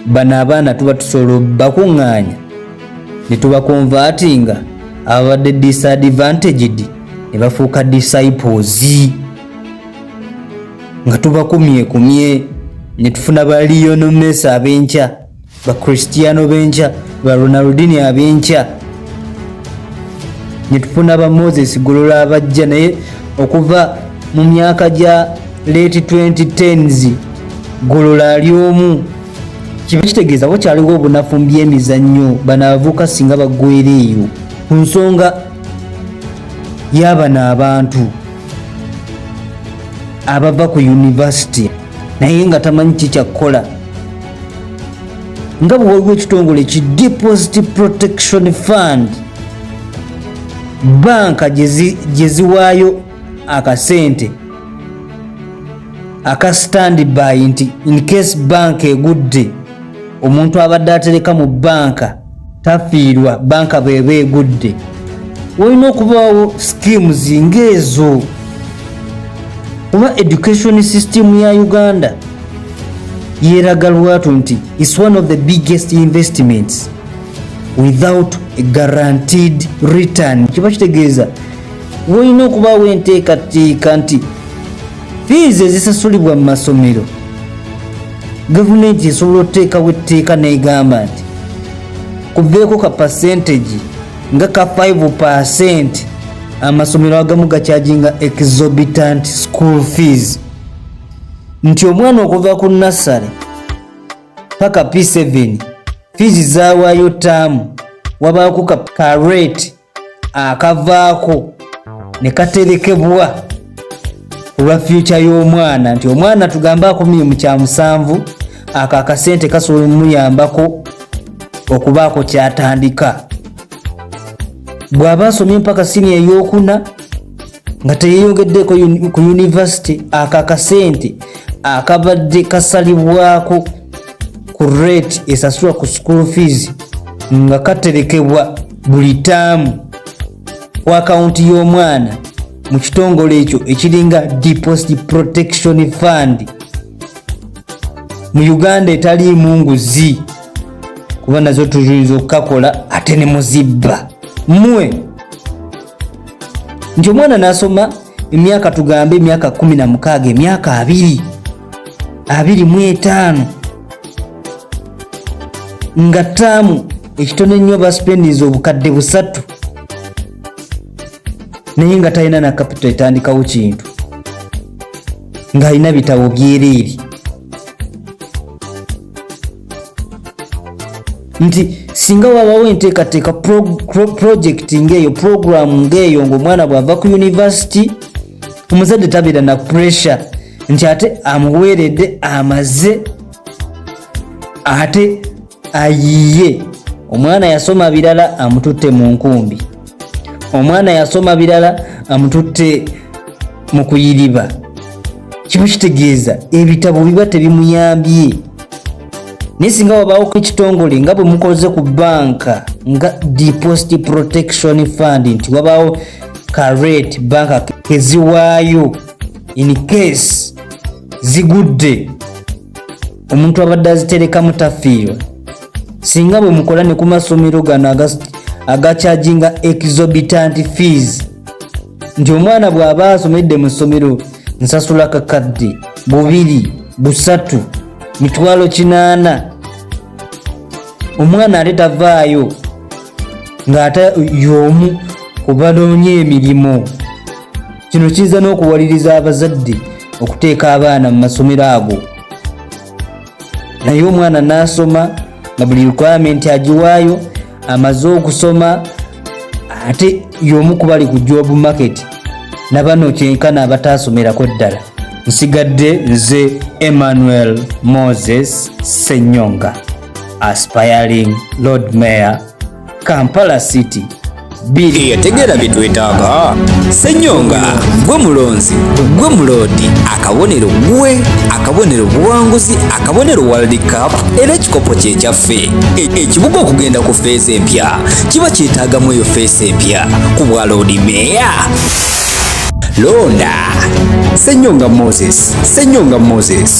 bano abaana tuba tusobola bakuŋŋaanya ne tubakonvatinga ababadde disadvantaged ne bafuuka disciples nga tubakumyekumye ne tufuna baliyononesa ab'enkya ba Cristiano benkya ba Ronaldinho abenkya netufuna ba Moses Golola abajja naye okuva mu myaka gya late 2010s Golola ali omu kiba kitegeeza wakyaliwo obunafu mu byemizannyo bano abavuka singa bagwera eyo ku nsonga y'abano abantu abava ku yunivasite naye nga tamanyi kikyakkola nga bwewaliwo ekitongole ki deposit protection fund banka gye ziwaayo akasente aka standby nti incase banka egudde omuntu abadde atereka mu banka tafiirwa banka bweba egudde walina okubaawo schemes ngaezo kuba education system ya uganda yeraga lwatu nti is one of the biggest investments without a guaranteed return kiba kitegeeza wolina okubaawo enteekateeka nti fiizi ezisasulibwa mu masomero gavumenti esobola okuteekawo etteeka n'egamba nti kuveeko ka pasentegi nga ka 5 percent amasomero agamu gakyajinga exorbitant school fees nti omwana okuva ku nassary paka p7 fiizi zawaayo taamu wabaako ka rate akavaako ne katerekebwa olwa fyuca y'omwana nti omwana tugambe akomye mu kya musanvu ako akasente kasobola omuyambako okubaako kyatandika bw'aba asomye mpaka sini ey'okuna nga teyeyongeddeeko ku yunivasite ako akasente akabadde kasalibwako ku rate esasulwa ku school fees nga katerekebwa buli taamu ku akawunti y'omwana mu kitongole ekyo ekiringa deposit protection fund mu uganda etaliimu nguzi kuba nazo tuyinza okukakola ate ne muzibba mwe nti omwana nasoma emyaka tugambe emyaka kumi na mukaaga emyaka abiri abiri mu etaano nga taamu ekitono ennyo basipendinza obukadde busatu naye nga talina na kapito etandikawo kintu ng'alina bitabo byereere nti singa wabawo enteekateeka pulojekiti ng'eyo pulogulaamu ng'eyo ng'omwana bw'ava ku yunivasiti omuzadde tabeera na puresure nti ate amuweeredde amaze ate ayiye omwana yasoma birala amututte mu nkumbi omwana yasoma birala amututte mu kuyiriba kiba kitegeeza ebitabo biba tebimuyambye naye singa wabaawoko ekitongole nga bwe mukoze ku banka nga deposit protection fund nti wabaawo karet banka keziwaayo in case zigudde omuntu abadde aziterekamu tafiirwa singa bwe mukola ne ku masomero gano agakyajinga exorbitant fees nti omwana bw'aba asomedde mu ssomero nsasula kakadde bubiri busatu mitwalo kinaana omwana ate tavaayo ng'ate y'omu ku banoonye emirimu kino kiyinza n'okuwaliriza abazadde okuteeka abaana mu masomero ago naye omwana nasoma nga buli requirement agiwaayo amaze okusoma ate yomu kubali ku job market nabano kyenkana abataasomerako ddala nsigadde nze emmanuel moses senyonga aspiring lord mayor Kampala City biri yategera bitwetaaga senyonga gwe mulonzi gwe muloodi akabonero gwe akabonero buwanguzi akabonero world cup era ekikopo kyekyaffe e, ekibuga okugenda ku feesi empya kiba kyetaagamu eyo feesi empya ku bwa loodi meeya londa senyonga moses senyonga moses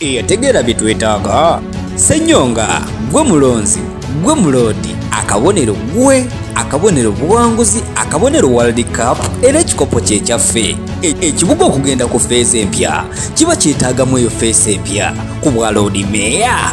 eyategeera bye twetaaga senyonga gwe mulonzi gwe muloodi akabonero gwe akabonero buwanguzi akabonero world cup era ekikopo kyekyaffe e, ekibuga okugenda ku feeza empya kiba kyetaagamu eyo feesa empya ku bwa loodi meeya